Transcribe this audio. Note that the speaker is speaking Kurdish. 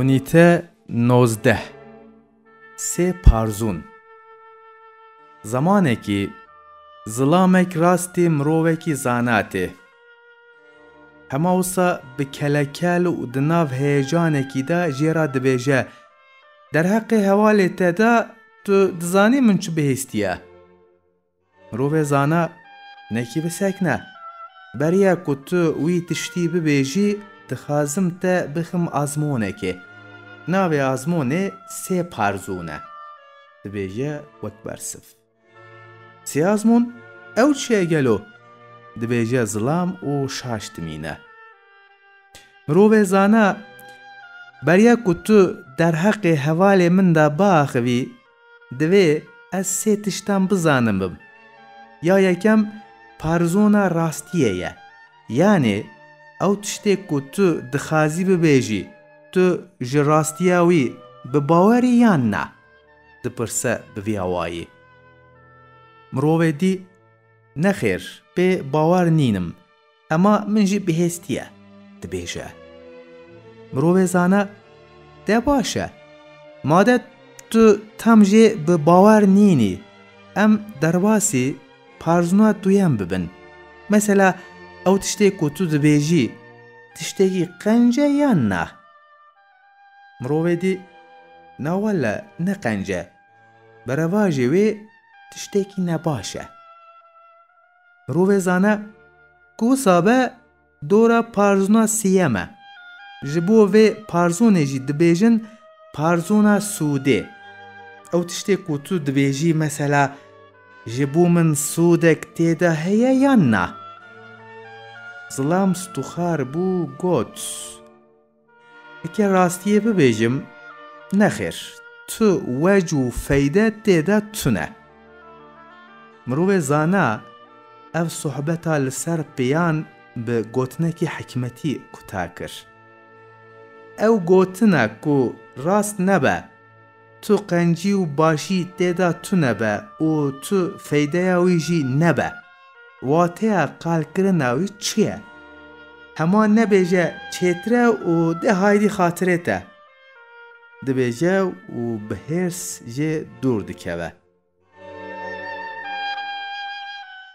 Unîte nozdeh Sê parzûn Zemanekî zilamek rastî mirovekî zana tê. Hema wisa bi kelekel û di nav heyecanekî de jê re dibêje, Derheqê hevalê te de tu dizanî min çi bihîstiye? Mirovê zana nekî bisekne. Beriya ku tu wî tiştî bibêjî dixwazim te bixim azmonekê. Navê azmonê sê parzûn e. Dibêje wek bersiv. Sê azmon? Ew çi ye gelo? Dibêje zilam û şaş dimîne. Mirovê zana beriya ku tu derheqê hevalê min de biaxivî, Divê ez sê tiştan bizanibim. Ya yekem parizona rastiyê ye. Yanê ew tiştê ku tu dixazî bibêjî tu ji rastiya wî bi bawerî yan na? dipirse bi vî awayî. Mirovê dî, Nexêr, pê bawer nînim. Ema min jî bihêstiye, dibêje. Mirovê zana te baş e. Made tu tam jê bi bawer nînî, em derbasî parzûna duyem bibin. Mesela ew tiştê ku tu dibêjî, tiştekî qence yan na? Mirovê dî, na wele ne qence, bi revajê wê tiştekî nebaş e. Rûvê zane ku wisa be dora parzûna siyem e. Ji bo vê parzûnê jî dibêjin parzûna sûdê. Ew tiştê ku tu dibêjî mesela ji bo min sûdek tê de heye yan na? Zilam stûxar bû got. Heke rastiyê bibêjim, nexêr, tu wej û feyde tê de tune. Mirovê zana ev sohbeta li ser pêyan bi gotinekî hikmetî quta kir. Ew gotina ku rast nebe, Tu qencî û başî tê de tune be û tu feydeya wî jî nebe. Wateya qalkirina wî çi ye? Hema nebêje çêtir e û dê haydî xatirê te. Dibêje û bi hêrs jê dûr dikeve.